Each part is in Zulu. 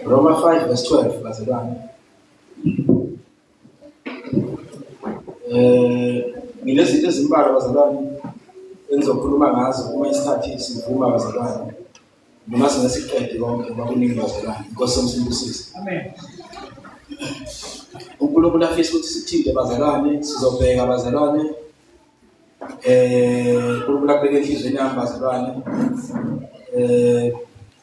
Roma 5 verse 12 bazalwane. Eh nginezinto ezimbalwa bazalwane engizokhuluma ngazo uma isikhathi sivuma bazalwane. Noma singasiqede konke ngoba kuningi bazalwane. Inkosi yomsindisisi. Amen. uNkulunkulu afisa ukuthi sithinte bazalwane sizobheka bazalwane eh kulula kubeka enhlizweni yami bazalwane eh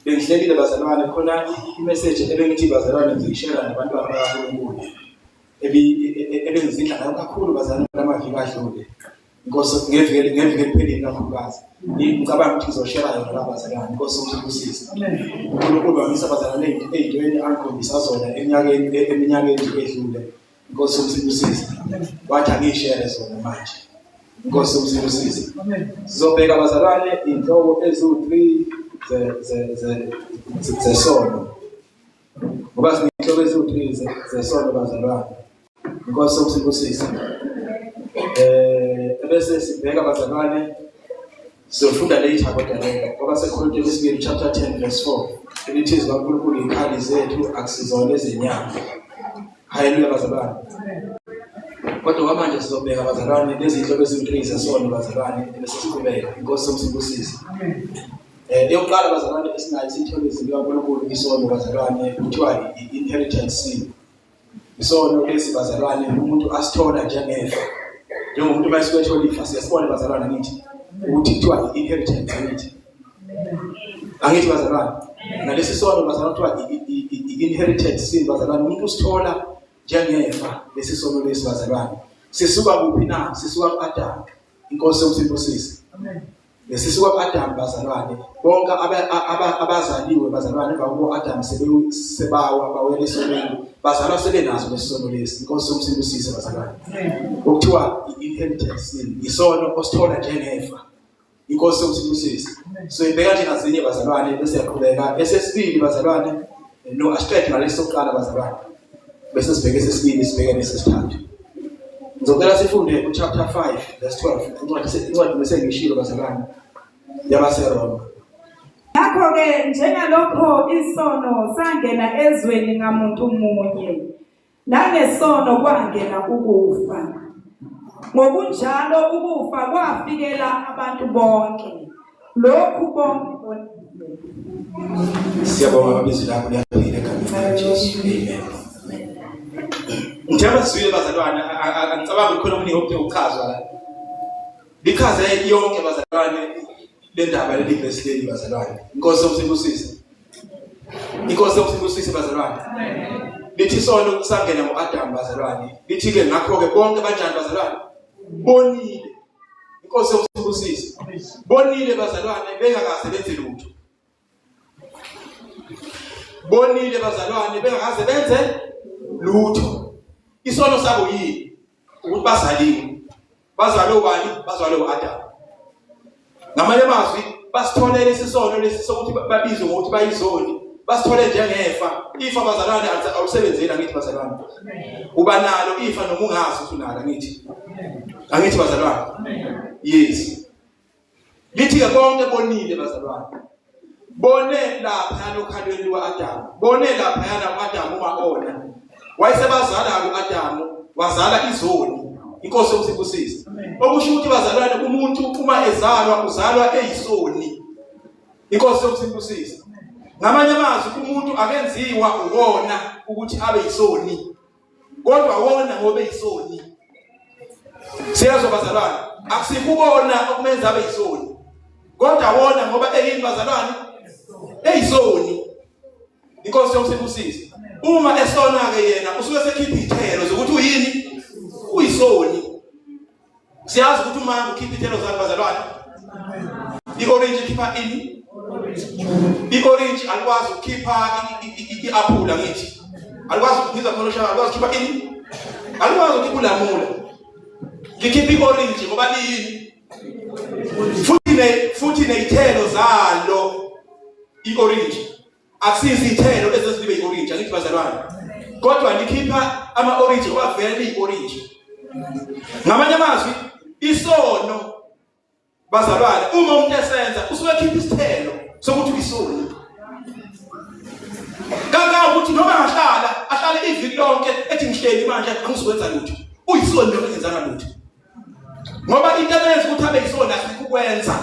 bengihlelile bazalwane khona i-message ebengithi bazalwane ngiyishela nabantwana bakaNkulunkulu ebengizidla ngayo kakhulu bazalwane lamaviki adlule inkosi ngevike ngevike liphelile kakhulukazi ngicabanga ukuthi ngizoshela yona la bazalwane inkosi umsibusise uNkulunkulu wamisa bazalwane ey'ntweni angikhombisa zona eminyakeni eminyakeni edlule Inkosi umsibusize. Wathi angishere zona manje. Inkosi umsibusize. Sizobheka abazalwane inhloko eziwu-3 ze ze ze zesono. Ngoba sinenhloko eziwu-3 zesono bazalwane. Inkosi umsibusize. Eh bese sibheka abazalwane Siyofunda later kodwa leka ngoba seKorinte lesibili chapter 10 verse 4 elithi izwi kaNkulunkulu yikhali zethu akusizona ezenyama. Haleluya bazalwane. Kodwa kwamanje sizobheka bazalwane nezinhlobo eziwu-3 zesono bazalwane bese siqhubeka. Inkosi somsibusise. Eh eyokuqala bazalwane esinayo isithole izinto kaNkulunkulu isono bazalwane kuthiwa i-inheritance sin. Isono lesi bazalwane umuntu asithola njengefa. Njengomuntu uma esuke ethola ifa siyasibona bazalwane ngithi ukuthi kuthiwa i-inheritance ngithi. Angithi bazalwane. Nalesi sono bazalwane kuthiwa i-inheritance sin bazalwane umuntu usithola njengefa lesi sono lesi bazalwane. Sisuka kuphi na? Sisuka ku-Adamu. Inkosi yomsindosisi. Amen. Ngesisi kwab'Adamu bazalwane, bonke abazaliwe bazalwane emva kokuba u-Adamu sebawa bawela esonweni, bazalwa sebenaso lesi sono lesi. Inkosi yomsindo usise bazalwane. Okuthiwa i-inheritance yini? Yisono osithola njengefa. Inkosi yomsindo usise. So ibeka nje ngazinye bazalwane bese yaqhubeka. Esesibili bazalwane, no asiqede ngalesi sokuqala bazalwane. bese sibheke sesibili sibheke nesesithathu ngizocela sifunde uchapter 5 verse 12 incwadi incwadi bese ngishilo bazalwane yabaseroma ngakho-ke njengalokho isono sangena ezweni ngamuntu munye nangesono kwangena ukufa ngokunjalo ukufa kwafikela abantu bonke lokhu konke siyabonga baba izwi lakho liyaphila egameni likajesu amen ngithe abazwile bazalwane angicabangi khona omunye ophe uchazwa la lichaze yonke bazalwane le ndaba leli vesi leli bazalwane inkosi yomsibusise inkosi yomsibusise bazalwane lithi isono kusangena ngo-adamu bazalwane lithi-ke ngakho-ke bonke banjani bazalwane bonile inkosi yokusibusisa bonile bazalwane bengakaze benze lutho bonile bazalwane bengakaze benze lutho isono sabo yini ukuthi bazaliwe bazalwe ubani bazalwe uAdam ngamanye amazwi basitholele isisono lesi sokuthi babizwe ngokuthi bayizoni basithole njengefa ifa bazalwane awusebenzeli angithi bazalwane uba nalo ifa noma ungazi ukuthi unalo angithi angithi bazalwane yes lithi-ke konke bonile bazalwane bone laphayana okhalweni luka-adamu bone laphayana u-adamu uma-ona wayesebazala u-adamu wazala izoni inkosi yokusibusisa okusho ukuthi bazalwane umuntu uma ezalwa uzalwa eyisoni inkosi yokusibusisa ngamanye amazwi umuntu akenziwa uwona ukuthi abe yisoni kodwa wona ngoba eyisoni siyezwa bazalwane akusikubona okumenza abe yisoni kodwa wona ngoba eyini bazalwane eyisoni inkosi yokusibusisa uma esona ke yena usuke sekhipha ithelo zokuthi uyini uyisoni siyazi ukuthi umama ukhipha ithelo zakhe bazalwane i-orange ikhipha ini i-orange alikwazi ukukhipha i-aphula ngithi alikwazi ngizwa khona oshaka alikwazi ukukhipha ini alikwazi ukukhipha ulamula ngikhipha i-orange ngoba liyini futhi ne futhi nezithelo zalo i-orange akusizithelo ezozibe iorange angithi bazalwane kodwa nikhipha ama orange kwavela iorange ngamanye amazwi isono bazalwane uma umuntu esenza usuke ekhipha isithelo sokuthi uyisoni kaka ukuthi noma angahlala ahlale iviki lonke ethi ngihleli manje angizokwenza lutho uyisoni noma engenzanga lutho ngoba into ebenza ukuthi abe yisona sikukwenza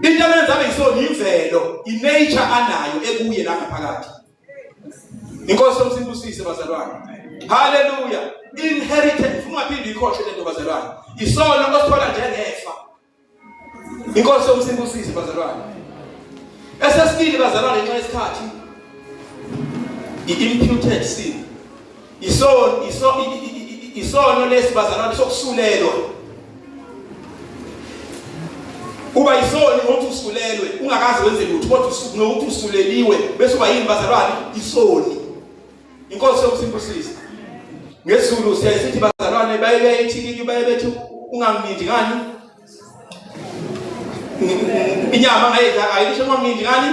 into ebenza abe yisona imvelo inature anayo ekuye la ngaphakathi inkosi yomsimbusise bazalwane haleluya inheritance ungaphinde ikhohle lento bazalwane isono osithola njengefa Inkosi yomsimbusisi bazalwane. Esesibili bazalwane nxa isikhathi i-imputed sin. Isono isono isono lesibazalwane sokusulelwa. Uba isono ukuthi usulelwe ungakazi wenze lutho kodwa usukunokuthi usuleliwe bese uba yini bazalwane isoni. inkosi yokusibusisa ngesizulu siyaye sithi bazalwane baye beyithikiki baye bethi unganginindi ngani inyama ngayidla ayidisho unganginindi ngani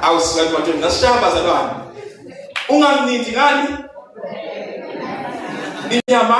awusikanti manje ngasishaya bazalwane unganginindi ngani inyama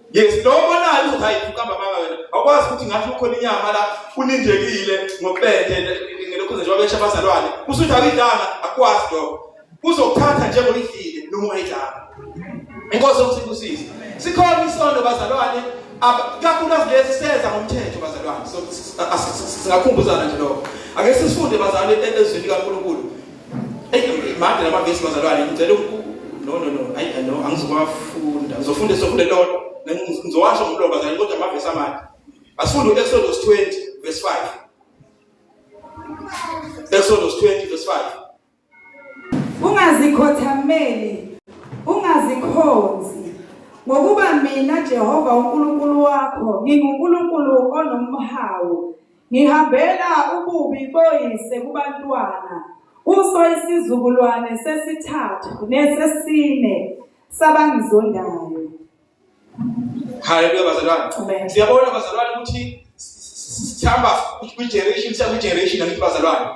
Yes, noma nayo ukuthi hayi ukamba mama wena. Awukwazi ukuthi ngathi ukhona inyama la unindekile ngopende ngelokho nje wabesha abazalwane. Usuthi akuyidanga akwazi lokho. Uzokuthatha njengoba idlile noma ungayidanga. Inkosi ukusibusisa. Sikhona isondo bazalwane kakhulukazi lesi senza ngomthetho bazalwane. So singakhumbuzana nje lokho. Ake sisifunde bazalwane ezweni likaNkulunkulu. made lama vesi bazalwane ngicela no no no ayi no angizokwafunda ngizofunda sokufunda lodwa ngizowasho ngomlomo bazalwane kodwa ama vesi amade asifunde u-exodus 20 verse 5 exodus 20 verse 5 ungazikhothameli ungazikhonzi ngokuba mina Jehova uNkulunkulu wakho nginguNkulunkulu onomhawu Ngihambela ububi boyise kubantwana kuso isizukulwane sesithathu nesesine sabangizondayo. Haleluya bazalwane. Amen. Siyabona bazalwane ukuthi sihamba kwi generation siya kwi generation angithi bazalwane.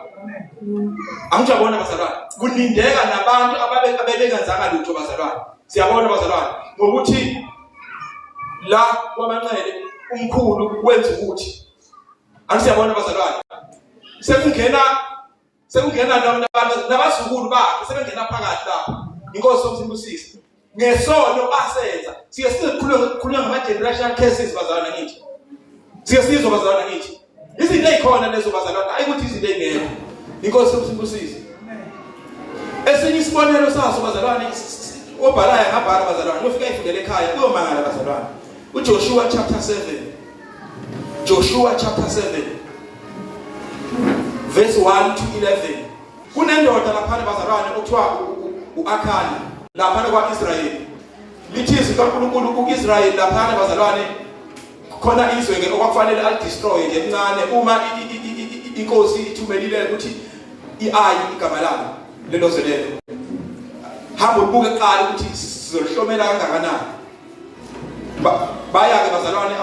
Angithi yabona bazalwane. Kulindeka nabantu ababe abebengenzanga lutho bazalwane. Siyabona bazalwane ngokuthi la kwamanxele umkhulu wenza ukuthi Angisiyabona abazalwane. Sekungena sekungena nabantu nabazukulu bakhe sebengena phakathi lapho. Inkosi omsimbusisi. Ngesono basenza. Siye sikhuluma ngokukhuluma ngama generational cases bazalwane ngithi. Siye sizwa bazalwane ngithi. Izinto ezikhona lezo bazalwane ayi ukuthi izinto ezingekho. Inkosi omsimbusisi. Esinye isibonelo saso bazalwane obhalayo ngabhala bazalwane ufika ifundele ekhaya kuyomangala bazalwane. UJoshua chapter 7 Joshua chapter 7 verse 1 to 11 kunendoda laphana bazalwane okuthiwa uAkhani laphana kwaIsrayeli lithi izwi kaNkulunkulu kuIsrayeli laphana bazalwane khona izwe ke okwakufanele alidestroy nje incane uma inkosi ithumelile ukuthi iayi igama lalo lelo zwe lelo hamba ubuke kuqala ukuthi sizolihlomela kangakanani bayake bazalwane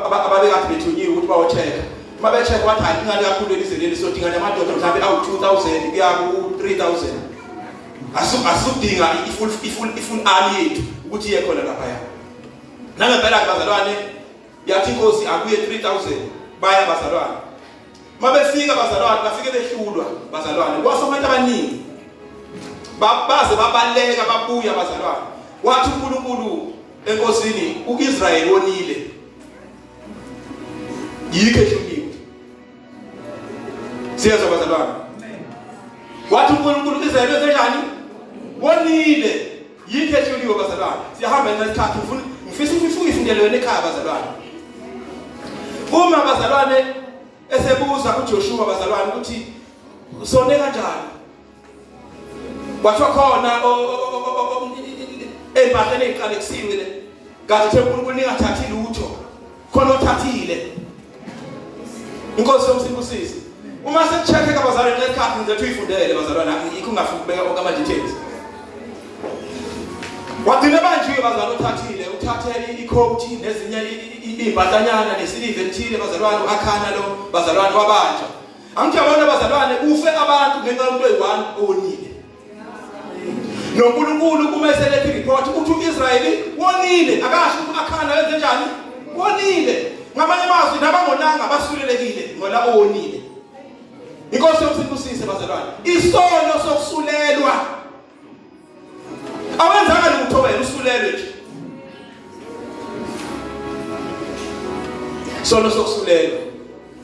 ababekade bethunyiwe ukuthi bawocheka uma becheka wathi hayi incane kakhulu elizwe leli sodinga namadoda mhlawumbe awu-two thousand kuya ku-three thousand asudinga i-full army yethu ukuthi iye khona laphaya nangempela-ke bazalwane yathi inkosi akuye 3000 baya bazalwane mabefika bazalwane bafike behlulwa bazalwane kwafa abantu abaningi babaze babaleka babuya bazalwane wathi uNkulunkulu enkosini uIsrael wonile yikho ehlukiwe siyezwa bazalwane wathi uNkulunkulu uIsrael wenzenjani wonile Yikho ehloliwe bazalwane. Siyahamba ngenxa yesikhathi ufuna ngifisa ukuthi ufunge ifundelo wena ekhaya bazalwane. Uma bazalwane esebuza kuJoshua bazalwane ukuthi usone kanjani? Kwathiwa khona ezimpahleni eziqalekisimile kanti uthembula ukuningathathi lutho khona othathile inkosi yomsindo usisi uma sekucheckeka abazalwane nxa isikhathi ngizethu uyifundele bazalwane yikho ungafuni ukubeka konke ama-details wagcina banjiwe bazalwane uthathile uthathele ikhowuthi nezinye iy'mpahlanyana nesiliva elithile bazalwane u-akhana lo bazalwane wabanjwa angithi yabona bazalwane kufe abantu ngenxa yomuntu oyi-one onile noNkulunkulu uma eselethe ireport ukuthi uIsrayeli wonile akasho ukuthi akhanda wenze njani wonile ngamanye amazwi nabangonanga basulelekile ngola owonile inkosi yokusibusise bazalwane isono sokusulelwa awenzanga lutho wena usulelwe nje sono sokusulelwa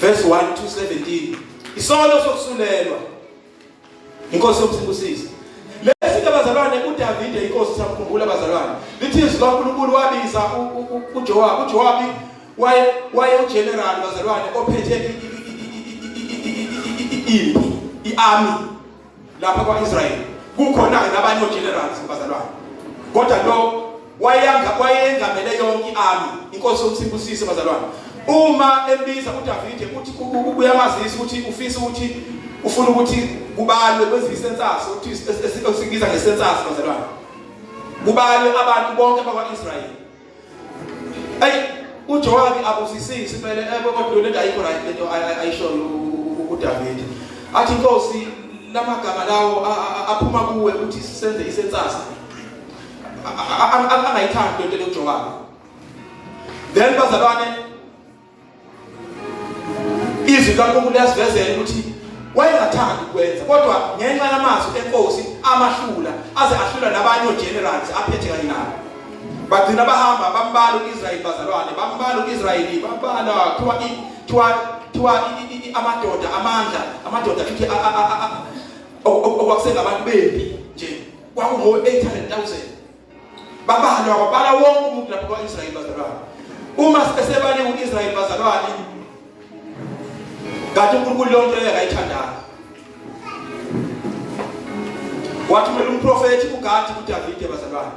verse 1 to 17 isono sokusulelwa inkosi yomsibusisi lesi ke bazalwane uDavide inkosi sakukhumbula bazalwane lithi izwi kaNkulunkulu wabiza uJowabi uJowabi waye waye ugeneral bazalwane ophethe impi iarmy lapha kwa-israyeli kukhona-ke nabanye ogenerals bazalwane kodwa lo wayengamele yonke i-army inkosi yomsibusise bazalwane uma ebiza udavide uthi uyamazisa ukuthi ufisa ukuthi ufuna ukuthi kubalwe kwenziwe isensasi ukuthi esikubiza ngesensasi bazalwane kubalwe abantu bonke bakwa-israyeli ayi uJowabi abusisisi impela ebe kodwa lento ayikho right lento ayishoyo uDavid athi inkosi lamagama lawo aphuma kuwe ukuthi senze isensasa angayithandi lento yoJowabi then bazalwane izwi likaNkulunkulu liyasivezela ukuthi wayengathandi ukwenza kodwa ngenxa yamazwi enkosi amahlula aze ahlula nabanye ogenerals aphethe kanye nabo bagcina bahamba bambala uIsrayeli bazalwane bambala uIsrayeli bambala kuthiwa kuthiwa kuthiwa amadoda amandla amadoda futhi okwakusengabantu bempi nje kwakungo 800000 babalwa kwabala wonke umuntu lapho kwa-israyeli bazalwane uma sebaliwe u-israyeli bazalwane kanti unkulunkulu leyo nto leyo akayithandanga wathumela umprofethi ugadi kudavide bazalwane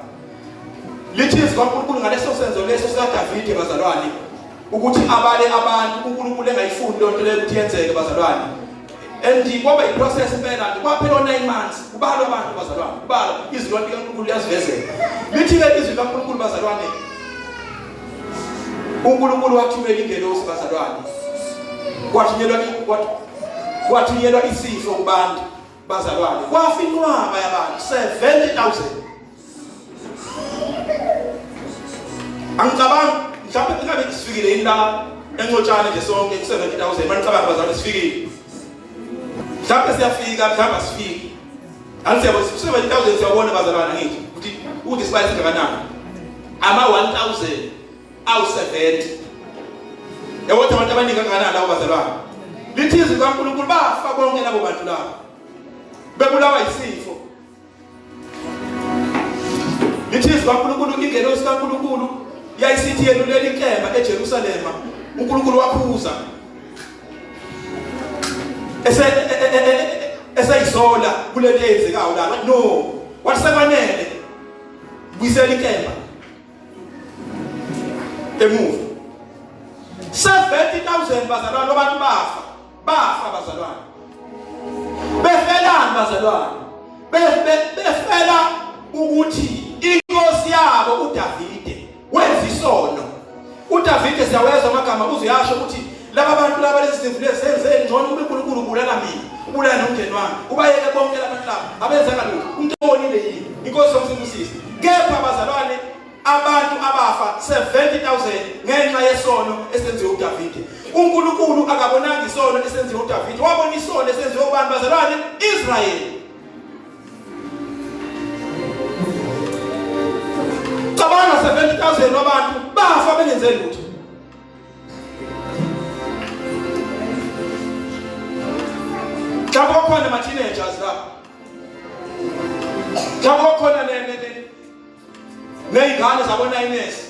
lithi izwi kwankulunkulu ngaleso senzo leso sikadavide bazalwane ukuthi abale abantu unkulunkulu engayifuni leyo nto leyo ukuthi yenzeke bazalwane and kwaba yiprocess impela nje kwaphela o-nine months kubalwa abantu bazalwane kubalwa izwi lonke likankulunkulu liyazivezela lithi-ke izwi likankulunkulu bazalwane unkulunkulu wathumela ingelosi bazalwane kwathunyelwa kwathunyelwa isifo kubantu bazalwane kwafa inqwaba yabantu 70000 angicabangi mhlawumbe kungabe kusifikile yini la encotshane nje sonke ku-70000 manicabanga bazali sifikile mhlawumbe siyafika mhlawumbe asifiki anti siyabo ku-70000 siyawubona bazalwana ngithi ukuthi ukuthi sibali singakanani ama-1000 awu-70 yawothi abantu abaningi kangakanani lawo bazalwana lithi izwi likankulunkulu bafa bonke labo bantu labo bebulawa yisifo Lithi zikaNkulunkulu ingelosi kaNkulunkulu yayisithi yelulela inkemba eJerusalema uNkulunkulu wakhuza ese eseyisola kulento eyenzekayo la no wasebanele buyisela inkemba emuva 70000 bazalwane abantu bafa bafa bazalwane befelani bazalwane befela ukuthi inkosi yabo uDavide wenza isono uDavide siyawezwa amagama uziyasho ukuthi laba bantu laba lezi zinto lezenze ngcono kube uNkulunkulu ubulala mina ubulala nomndeni wami ubayeke bonke labantu laba abenzanga lutho umntu onile yini inkosi yomsibusisi kepha bazalwane abantu abafa 70000 ngenxa yesono esenziwe uDavide uNkulunkulu akabonanga isono esenziwe uDavide wabona isono esenziwe abantu bazalwane Israel cabanga 70000 wabantu bafa bengenze lutho Mhlawumbe kwakhona ama teenagers lapha. Mhlawumbe kwakhona ne nezingane zabonayinesi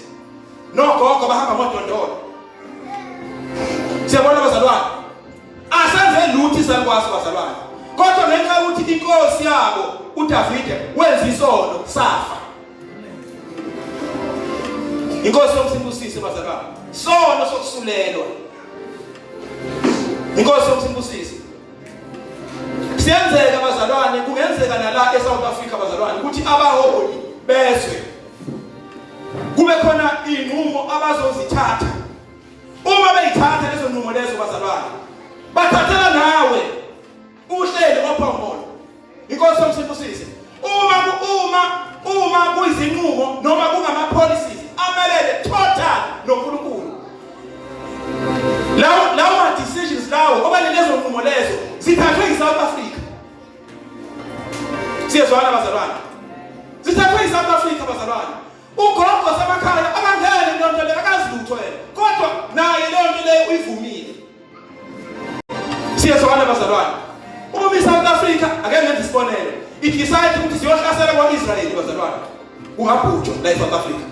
nogogo bahamba ngodondolo siyabona bazalwane asenze lutho isakwazi bazalwane kodwa ngenxa yokuthi inkosi yabo udavide wenza isono safa inkosi yomsimbusise bazalwane sono sokusulelwa inkosi yomsimbusise Siyenzeka bazalwane, kungenzeka nala eSouth Africa bazalwane ukuthi abaholi bezwe kube khona inqumo abazozithatha. Uma beyithatha lezo nqumo lezo bazalwane, bathathela nawe uhleli ophongolo Inkosi yomsibusise. Uma uma uma kuyizinqumo noma kungama policies amelele total noNkulunkulu. Lawo lawo ma decisions lawo okanye lezo nqumo lezo zithathwe yiSouth Africa. Siyezwana bazalwane. Zithathwe yiSouth Africa bazalwane. Ugogo semakhaya akangene into le akazilutho yena. Kodwa naye leyo nto leyo uyivumile. Siyezwana bazalwane. Uma iSouth Africa ake ngenze isibonelo. Idecide ukuthi siyohlasela kwa-Israel bazalwane. Kungabhujwa la eSouth Africa.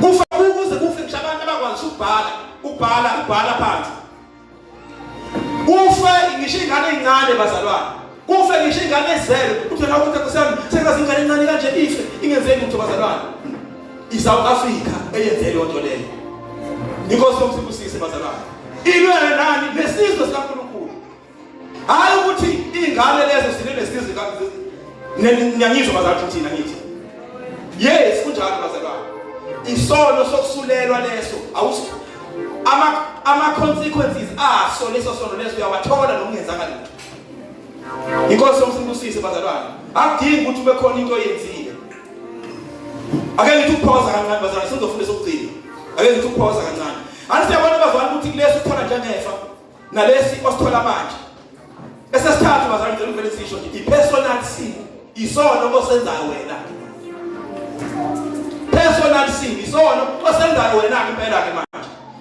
Kufa ukuze kufe ngisho abantu abakwazi ukubhala, ukubhala, ukubhala phansi. Kufe ngisho ingane ezincane bazalwane. Kufe ngisho ingane ezele uthela ukuthi kusami sengaze ingane encane kanje ife ingenzeki ukuthi bazalwane. ISouth Africa eyenze leyo nto leyo. Inkosi yomsibusise bazalwane. Ilwele nani nesizwe sikaNkulunkulu. Hayi ukuthi ingane lezo sine nesizwe kaNkulunkulu. Ngiyangizwa bazalwane thina ngithi. Yes kunjalo bazalwane. Isono sokusulelwa leso awusi ama ama consequences aso leso sono leso uyawathola nokungenzanga lutho. inkosi yomsibusise bazalwane akudingi ukuthi ube khona into oyenzile ake ngithi ukuphosa kancane bazalwane sizofunda sokugcina ake ngithi ukuphosa kancane anti siyabona bazalwane ukuthi kulesi uthola njengefa nalesi osithola manje esesithathu bazalwane ngicela uvele sisho nje i-personal sin isono osenzayo wena personal sin isono osenzayo wena-ke impela-ke manje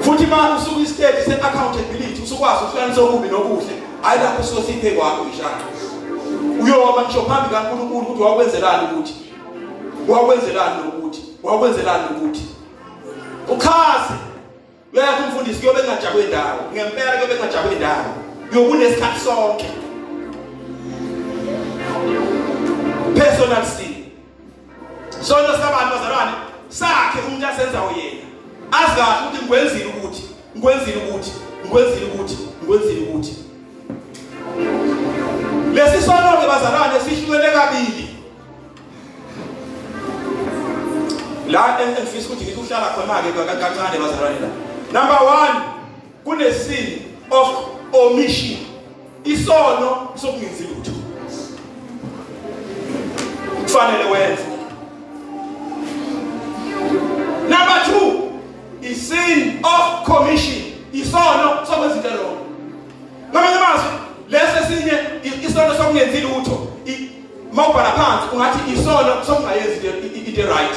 futhi manje usuku istage se accountability usukwazi ukuhlanisa okubi nokuhle hayi lapho usosiphe kwakho ishaka uyoba ngisho phambi kaNkulunkulu ukuthi wakwenzelani ukuthi wakwenzelani ukuthi wakwenzelani ukuthi uchaze uyayazi umfundisi kuyobe engajabwe ndawo ngempela kuyobe engajabwe ndawo yokunesikhathi sonke personal sin Sonto sikabantu bazalwane sakhe umuntu asenzayo yena. Azi kahle ukuthi ngikwenzile ukuthi ngikwenzile ukuthi ngikwenzile ukuthi ngikwenzile ukuthi. Lesi sonto ke bazalwane sihlukene kabili. La engifisa ukuthi ngithi uhlala khona ke kancane bazalwane la. Number 1 Kunesin of omission. Isono sokungenzi lutho. Kufanele wenze. Number 2 is sin of commission. Isono sokwenza into wrong. Ngamanye amazwi lesi esinye isono sokungenzi lutho. Mawubhala phansi ungathi isono sokungayenzi into right.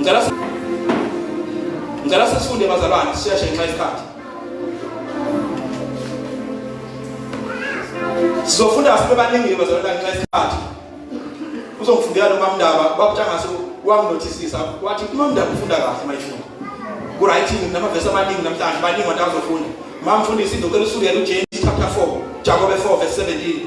Ngicela ngicela sifunde bazalwane sisheshe ngenxa yesikhathi. Sizofunda sibe baningi bazalwane ngenxa yesikhathi. Uzongifundela lo mamndaba kwakutshangase wanginotisisa wathi umamndaba ufunda kahle mayifunda. Ku right namavesi amaningi namhlanje baningi abantu abazofunda. Mamfundisi ngicela usukele uJesu chapter 4 Jakobe 4 verse 17.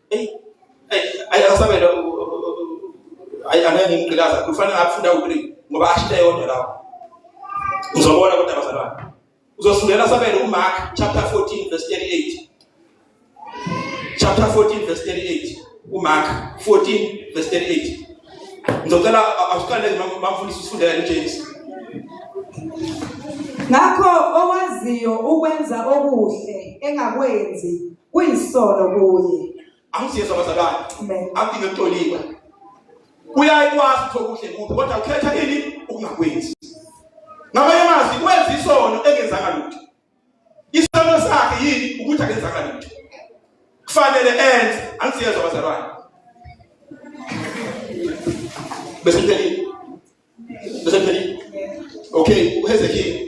Hey, hey, ay asamele ay anani ngilaza kufanele afunda ukuthi ngoba ashite yodwa lawo. Uzobona kodwa bazalwane. Uzosindela sabele uMark chapter 14 verse 38. Chapter 14 verse 38. UMark 14 verse 38. Ngizocela asiqale ngimfundise usifundela uJesu. Ngakho owaziyo ukwenza okuhle engakwenzi Kuyisono kuye. Angisiyesa abazalwane. Amen. Akudinge kutoliwa. Uyaye kwazi ukuthi okuhle kuphi kodwa ukhetha ini ukungakwenzi. Ngamanye amazwi kwenza isono engenzanga lutho. Isono sakhe yini ukuthi akenzanga lutho. Kufanele enze angisiyezwa abazalwane. Bese ngiphelile. Bese ngiphelile. Okay, uHezekiya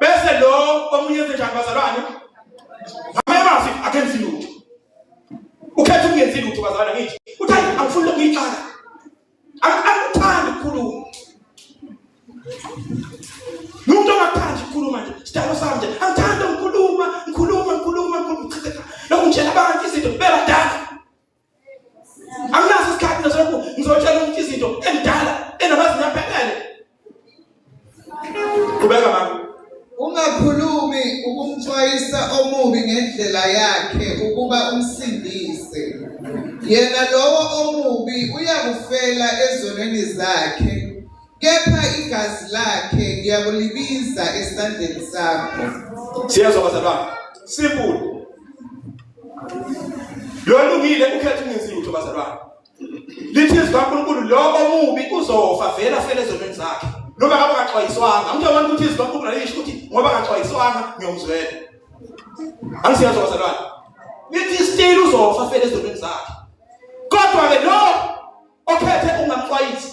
bese lo omunye enze njani bazalwane ngamanye amazwi akenzi lutho ukhetha ukungenzi lutho bazalwane ngithi uthi hayi angifuni lokhu ngiyixaka angikuthandi ukukhuluma nomuntu ongakuthandi ukukhuluma nje sidalo sami nje angithandi ukukhuluma ngikhuluma ngikhuluma ngikhuluma lokhu ngitshela abantu izinto bebadala anginaso isikhathi nasoku ngizotshela umuntu izinto endala enamazinga aphelele qhubeka mama ungakhulumi ukumxwayisa omubi ngendlela yakhe ukuba umsindise yena lowo omubi uyakufela ezonweni zakhe kepha igazi lakhe ngiyakulibiza esandleni sakho siyezwa bazalwane simple lolungile ukhetha ungenzi lutho bazalwane lithi izwi kaNkulunkulu lobo mubi uzofa vele afele ezonweni zakhe noma ngabe akaxwayiswanga umuntu abantu ukuthi izwi kaNkulunkulu alisho ukuthi ngoba akaxwayiswanga ngiyomzwela angisiyazwa bazalwane lithi still uzofa afele ezonweni zakhe kodwa ke lo okhethe ungamxwayisi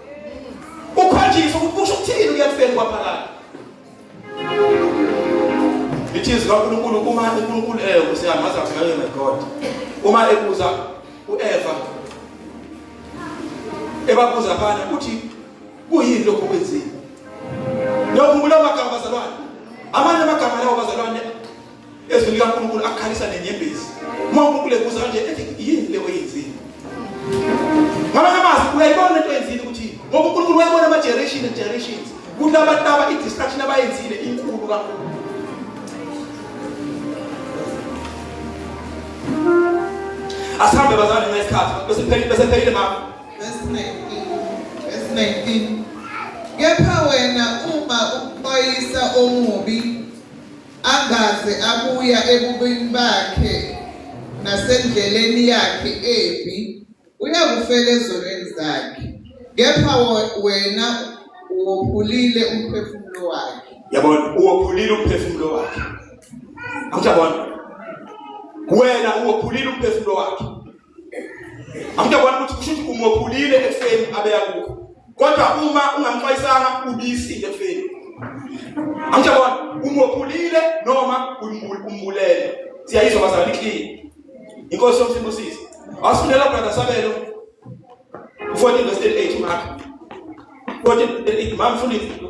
ukhonjiswa ukuthi kusho ukuthini ukuya kufeni kwaphakade ithi izwi kaNkulunkulu uma uNkulunkulu eh usiyamazi akuyona my God uma ebuza uEva ebabuza bana ukuthi kuyini lokho kwenzile nokhumbula amagama bazalwane amanye amagama lawo bazalwane Ezwi likaNkulunkulu akhalisa nenyembezi. Uma uNkulunkulu ebuza kanje ethi yini le oyenzile? Ngamanye amazwi uyayibona into oyenzile ukuthi ngoba uNkulunkulu wayibona ama generation and generations. Kuthi abantu laba i distraction abayenzile inkulu kakhulu. Asihambe bazane ngesikhathi bese pheli bese pheli mama. Verse 19. Verse 19. Kepha wena uma uxwayisa omubi Angaze abuya ebubini bakhe nasendleleni yakhe embi, uyakufela ezonweni zakhe, kepha wena uwophulile umphefumulo wakhe. Yabona, uwophulile umphefumulo wakhe. Awujabona? Wena uwophulile umphefumulo wakhe. Angiyabona ukuthi kusho ukuthi umophulile ekufeni abeya kukho. Kodwa uma ungamxwayisanga ubisile ekufeni. Angiyabona umophulile noma umbulele. Siyayizwa bazalwane clean. Inkosi yomsimbusisi. Asifundela brother Sabelo. Ufundile verse 8 Mark. Ufundile 8 Mark ufundile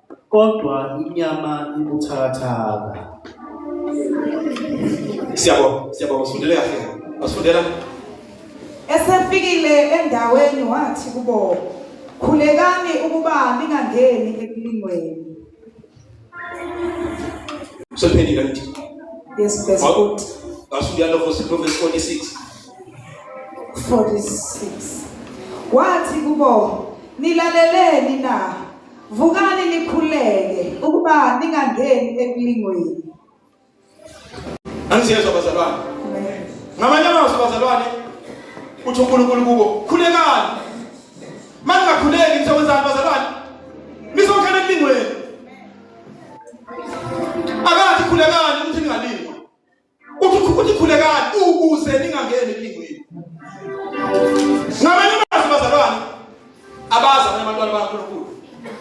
kodwa inyama ibuthakathaka siyabonga siyabonga usifundele kahle wasifundela esefikile endaweni wathi kubo khulekani ukuba ningangeni ekulingweni sophendile ngithi yes best Asubuhi yalo verse 46. 46. Wathi kubo nilaleleni na Vukani nikhuleke ukuba ningangeni ekulingweni. Angisiyezwa bazalwane. Ngamanye amazwi bazalwane uthi uNkulunkulu kubo khulekani. Manje ngakhuleki nisekwenzani bazalwane? Nizokhela ekulingweni. Akathi khulekani ukuthi ningalingwa. uthi khulekani ukuze ningangeni elingweni ngamanye amazwi bazalwane abazi abanye abantwana bakaNkulunkulu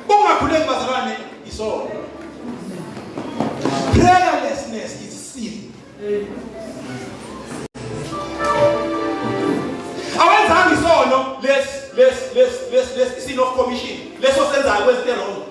ungakhuleki bazalwane isono prayerlessness is sin awenzanga isono lesi lesi lesi lesi sin of commission leso senzayo kwezinto wrong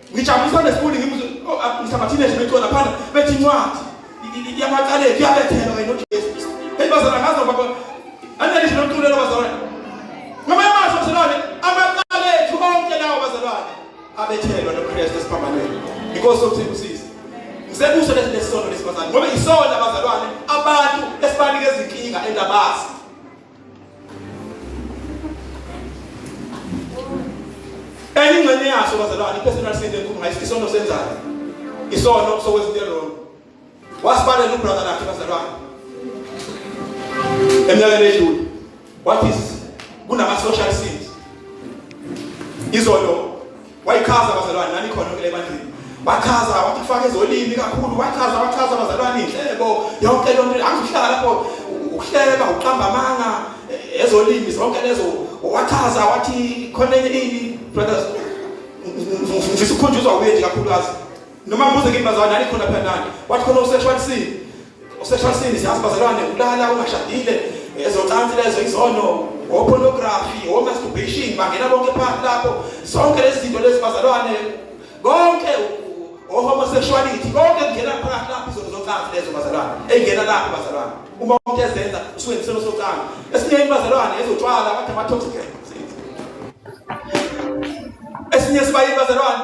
Ngijabulisa nesifundi ngimuzwe oh, ah, ngisabathile nje becona phana bethi incwadi yamacala ethu yabethelwa kanye noJesu. Hey bazana ngazi noma baba. Anele nje nomculo lo bazana. Ngamanye amazwi bazalwane amacala ethu onke lawo bazalwane abethelwa noKristu esiphambanweni. Inkosi okuthi kusise. Ngisebuso lesi lesono lesibazana ngoba isona bazalwane abantu esibanike izinkinga endabazi. enye ingxenye yaso bazalwane i-personal sin enkulu ngayithi isono senzayo isono sokwezinto erong wasibalela ubrother lakhe bazalwane eminyakeni edlule wathi kunama-social sins izolo wayichaza abazalwane nani khona kule bandini bachaza wathi kufake ezolimi kakhulu wachaza wachaza abazalwane inhlebo yonke le nto angihlala lapho ukuhleba uqamba amanga e, ezolimi zonke lezo wachaza wathi khona enye ini brothers ngifisa ukukhunjuzwa kuye nje kakhulukazi noma ngibuze kimi bazalwane nani khona phela nani wathi khona usexual sin Useshasini siyazi bazalwane ukulala ungashadile ezocansi lezo izono ngopornography ngomasturbation bangena bonke phakathi lapho zonke lezi zinto lezi bazalwane konke ohomosexuality konke kungena phakathi lapho izono zocansi lezo bazalwane eyingena lapho bazalwane uma umuntu ezenza usuke neselo socansi esinye ibazalwane ezotshwala abathi ama-toxic esinye sibayini bazalwane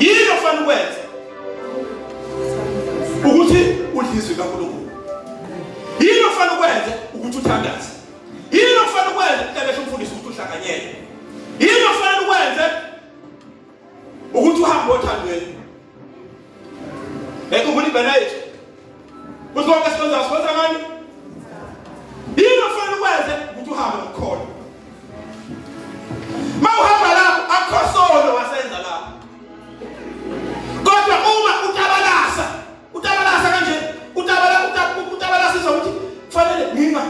yini ofanele ukwenze ukuthi udle izwi kaNkulunkulu yini ofanele ukwenze ukuthi uthandaze yini ofanele ukwenze ukubesha umfundisi ukuthi uhlanganyele yini ofanele ukwenze ukuthi uhambe othandweni Bekhumbula ibhena yethu. Kuthi konke esikwenzayo sikwenza ngani? Yini ofanele ukwenze ukuthi uhambe ngokukhona. Uma uhamba lapho akukho sono wasenza lapho. Kodwa uma utabalasa, utabalasa kanje, utabala utabalasa izwa ukuthi kufanele nginga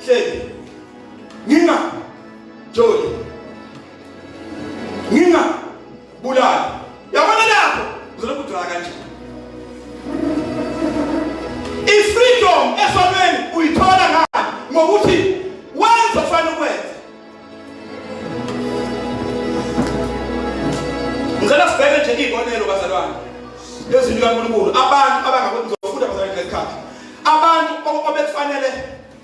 hleli. Nginga joli. Nginga Bulala. Yabona lapho. Uzolokhu udwala kanje. I-freedom esonweni uyithola ngani? Ngokuthi wenza ofana ukwenza. Ngicela sibheke nje iy'bonelo bazalwane. Lezwi likaNkulunkulu abantu abangakwenza ufunda bazalwane ngesikhathi. Abantu obekufanele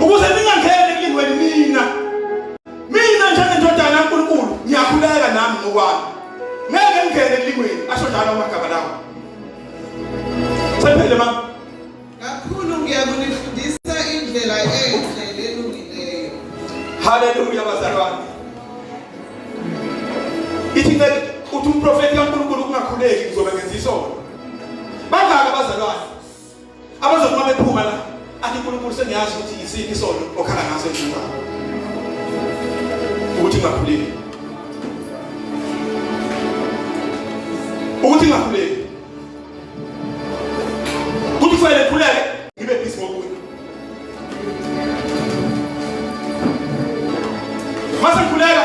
ukuze ningangeni enkingweni mina mina njengendodana kaNkulunkulu ngiyakhuleka nami ngokwami ngeke ngingene enkingweni asho njalo amagama lawo sephele mama kakhulu ngiyakunifundisa indlela enhle nelungileyo haleluya bazalwane ithi uthi umprofeti kaNkulunkulu kungakhuleki ngizobe ngenza isono bangaka abazalwane abazothi uma bephuma la athi unkulunkulu sengiyazi ukuthi yisiphi isono okhala ngaso ekhuluma ukuthi ngakhuleki ukuthi ngakhuleki ukuthi kufanele khuleke ngibe busy ngokunye mase ngikhuleka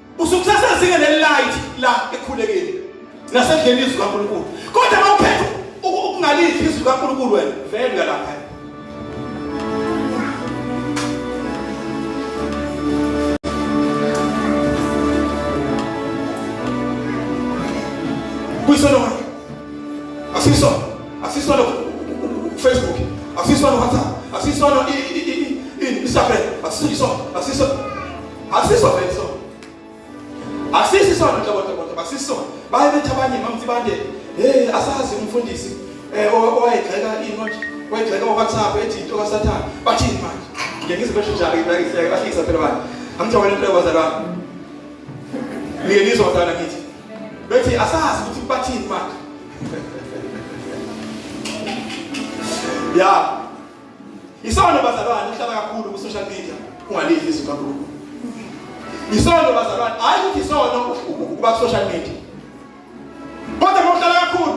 Usukusasa zinge le light la ekhulekile nasendleni izwi kaNkulunkulu. Kodwa mawuphethe ukungalidli izwi kaNkulunkulu wena vele uyalapha. Kuyisona wena. Asisona. Asisona Facebook. Asisona WhatsApp. Asisona i i i i Instagram. Asisona. Asisona. Asiso vele so. Asisi sona ntobo ntobo ntobo asiso. Baye bethi abanye mamthi bande hey asazi umfundisi eh owayegxeka inothi wayegxeka uWhatsApp ethi into kaSathane. Bathini manje? Ngeke ngizibeshe njalo ngibekise bahlisa phela bani. Amthi wena into yabazalwana. Ngeke ngizozana ngithi. Bethi asazi ukuthi bathini manje. Yeah. Isono bazalwane uhlala kakhulu ku social media ungalidli izwi kaNkulunkulu. Isono bazalwane hayi ukuthi isono ukuba ku social media. Kodwa ngokuhlala kakhulu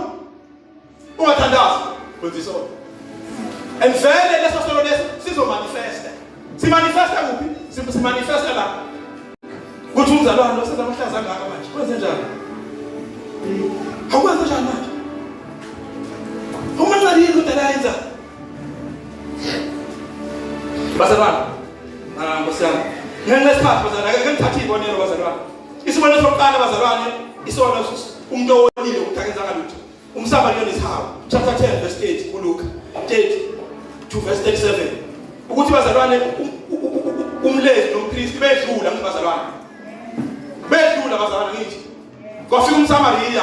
ungathandazi wenza isono. And vele leso sono leso sizo manifesta. Si manifesta kuphi? Si manifesta la. Kuthi umzalwane osenza amahlaza ngaka manje. Kwenze njani? Awukwenze njani manje? Uma ngaliyo into la yenza Bazalwane, ah Nkosi yami. Ngenxa isikhathi bazalwane, ake ngithathe izibonelo bazalwane. Isibonelo sokuqala bazalwane, isona umuntu owonile ukuthakenza ngalutho. Umsaba lona isihawu. Chapter 10 verse 8 kuLuka 30 to verse 37. Ukuthi bazalwane umlezi nompristi bedlula ngibazalwane. Bedlula bazalwane ngithi. Kwafika umSamariya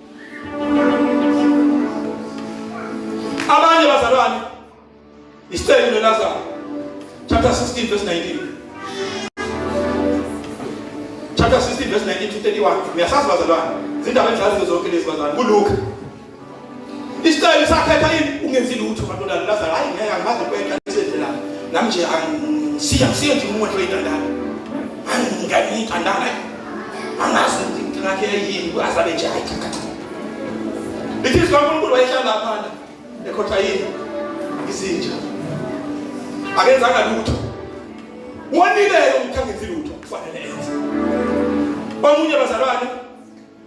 abanye bazalwane isicelo lelazaro chapter 16 verse 19 chapter 16 verse 19 to 31 uyasazi bazalwane zindaba engizaziyo zonke lezi bazalwane kuluka isicelo sakhetha yini ungenzi lutho bantu lalo lazaro hayi ngeke angimazi kwenta isenze la nami nje angisiya ngisiye nje umuntu oyintandana angingayintandana angazi ukuthi inkinga yakhe yini azabe nje hayi lithi sikankulunkulu wayehlala phana ekhotha yini izinja akenzanga lutho wonileyo umthangenzi lutho kufanele enze omunye bazalwane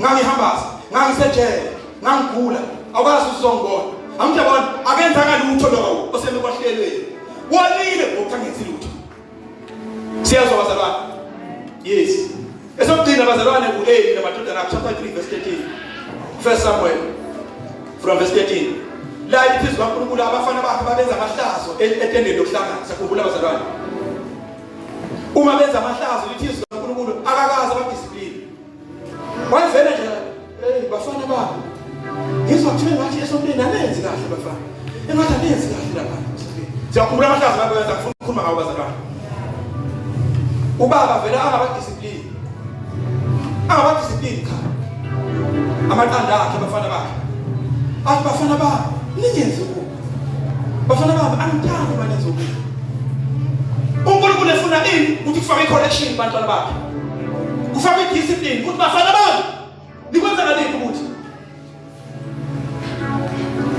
ngangihambaza ngangisejele ngangigula awukwazi usizongibona amntu yabona akenzanga lutho lowo oseme kwahlelweni wonile ngokuthi angenzi lutho siyezwa bazalwane yes esokugcina bazalwane ku-eli namadodana akho chapter 3 verse 13 first samuel from verse 13 la iphezu kankulunkulu abafana bakhe babenza amahlazo e-, etendeni lokuhlangana sakhumbula bazalwane uma benza amahlazo lithi izwi likaNkulunkulu akakaze abadisipline wayevele nje hey bafana babo ngizwa kuthiwa ngathi esontweni anenzi kahle bafana engathi anenzi kahle lapha siyakhumbula amahlazo lapho yenza ngifuna ukukhuluma ngawo bazalwane ubaba vele angabadisipline angabadisipline cha amaqanda akhe abafana bakhe athi bafana babo ningenzi Bafana bami angithandi uma nenza okubi. UNkulunkulu efuna ini ukuthi kufake i-correction kubantwana bakhe. Kufake i-discipline ukuthi bafana bami nikwenza ngaliphi ukuthi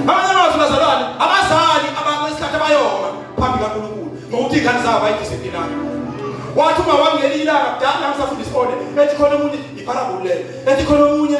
Abanye abantu bazalwane abazali ababesikhathi abayoma phambi kaNkulunkulu ngokuthi ingane zabo bayidiscipline. Wathi uma wangeli ilanga kudala ngisafunda isikole ethi khona umuntu ipharabulele ethi khona omunye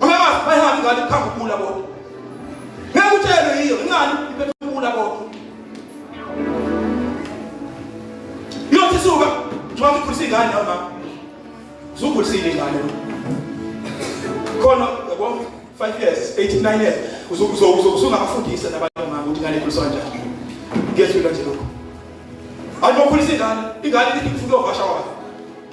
Amamazi bayihamba ingane ikhamba ukula bodwa. Ngeke utshelwe yiyo ingane iphethe ukula bodwa. Yothi suka, njengoba ukhulisa ingane nawe mama. Uzukhulisile ingane. Khona yabo 5 years, 8 9 years. Uzokuzokuzokuzungabafundisa nabantu mama ukuthi ingane ikhuliswa kanjani. Ngiyethula nje lokho. Ayibokhulisa ingane, ingane ithi ngifuna ukuvasha wayo.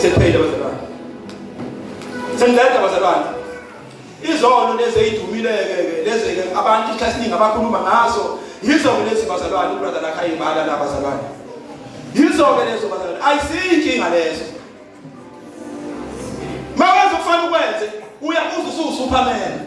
Sekuphele bazalwane. Sengiletha bazalwane. Izono lezi ezidumileyo-ke lezi-ke abantu isikhathi esiningi abakhuluma ngazo yizo-ke lezi bazalwane ubrother lakhe ayibala la bazalwane. Yizo-ke lezo bazalwane. Ayisiyi inkinga lezo. Mawenza okufanele ukwenze uyabuza usuwuSuperman.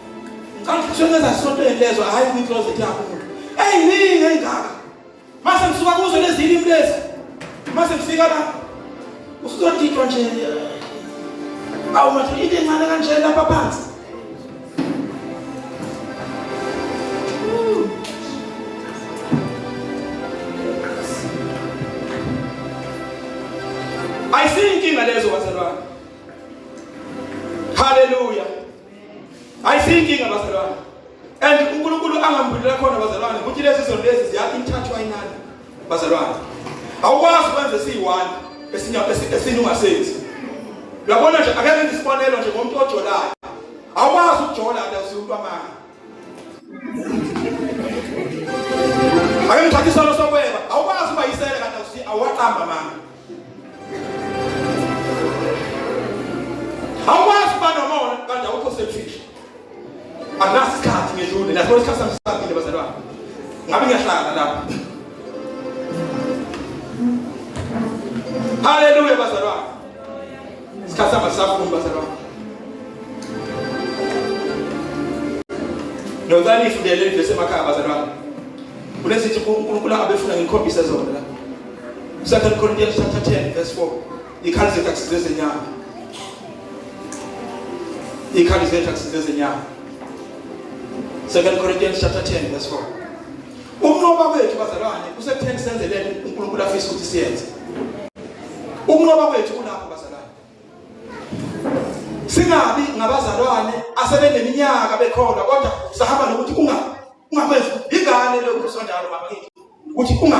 ngicabanga ukuthi ngeza sontweni lezo hayi kwi closet yakho umuntu eyiningi engaka mase ngisuka kuzo lezi ilimi lezi mase ngifika la usuzodidwa nje awu mathi into encane kanje lapha phansi ayisiyinkinga lezo bazalwane haleluya ayisiyinkinga bazalwane and unkulunkulu angambulela khona bazalwane ukuthi lezi zono lezi ziyakho imthathwa inani bazalwane awukwazi ukwenza esiyi-one esinye ungasenzi uyabona nje akekho into isibonelo nje ngomuntu ojolayo awukwazi ukujola nje usiwumuntu amanga ake ngithatha isono sokweba awukwazi uba yisele kanti awaqamba amanga awukwazi ukuba nomona kanti awukho selfish akunaso isikhathi ngedlule naso isikhathi sami sisabile bazalwane ngabe ngiyahlangana lapha haleluya bazalwane isikhathi sami sisafuni bazalwane nocela ifundele ivesi emakhaya bazalwane kunesithi unkulunkulu abefuna ngikhombise zona la 2 Corinthians chapter 10 verse 4 ikhali zethu akusize zenyama ikhali zethu akusize zenyama 2 Corinthians chapter 10 verse 4 ukunqoba kwethu bazalwane kusekutheni senzelele uNkulunkulu afisa ukuthi siyenze ukunqoba kwethu kulapho bazalwane singabi ngabazalwane asebeneminyaka bekhona kodwa sahamba nokuthi unga ungakwenza ingane lokhu sonjalo baba ukuthi unga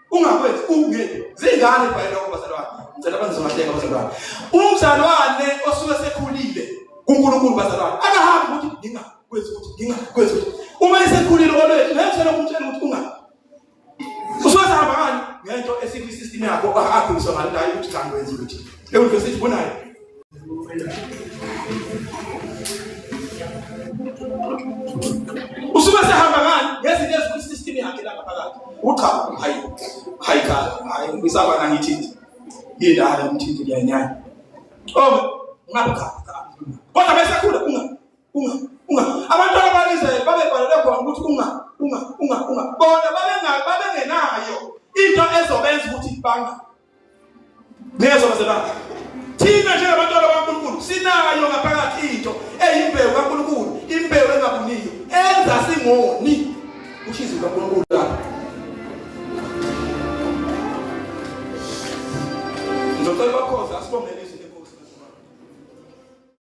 ungakwenzi ungeni zingane ibhayela kubazalwane ngicela bangizokahleka bazalwane umzalwane osuke sekhulile kuNkulunkulu bazalwane akahambi ukuthi nginga kwenza ukuthi nginga kwenza ukuthi uma esekhulile olwethu ngeke ukutshela ukuthi unga usuke sahamba kani ngento esithi system yakho akakhuliswa ngalo ukuthi cha ngwenza ukuthi leyo nto sithi bonayo usuke sehamba ngani ngezinto ezikwi system yakhe lapha phakathi ucha hayi hayi cha hayi ngisaba nangithinti yindala ngithinti ngiyanyanya oh ngabe cha kodwa bese khula unga unga unga abantwana bakiZayeli babebhalelwe khona ukuthi unga unga unga unga bona babengayo into ezobenza ukuthi banga Niyezwa bazalwane? Thina njengabantwana bakaNkulunkulu sinayo ngaphakathi into eyimbewu kaNkulunkulu, imbewu engabuniyo enza singoni ushizo kaNkulunkulu lapho. Ngizocela bakhoza asibongele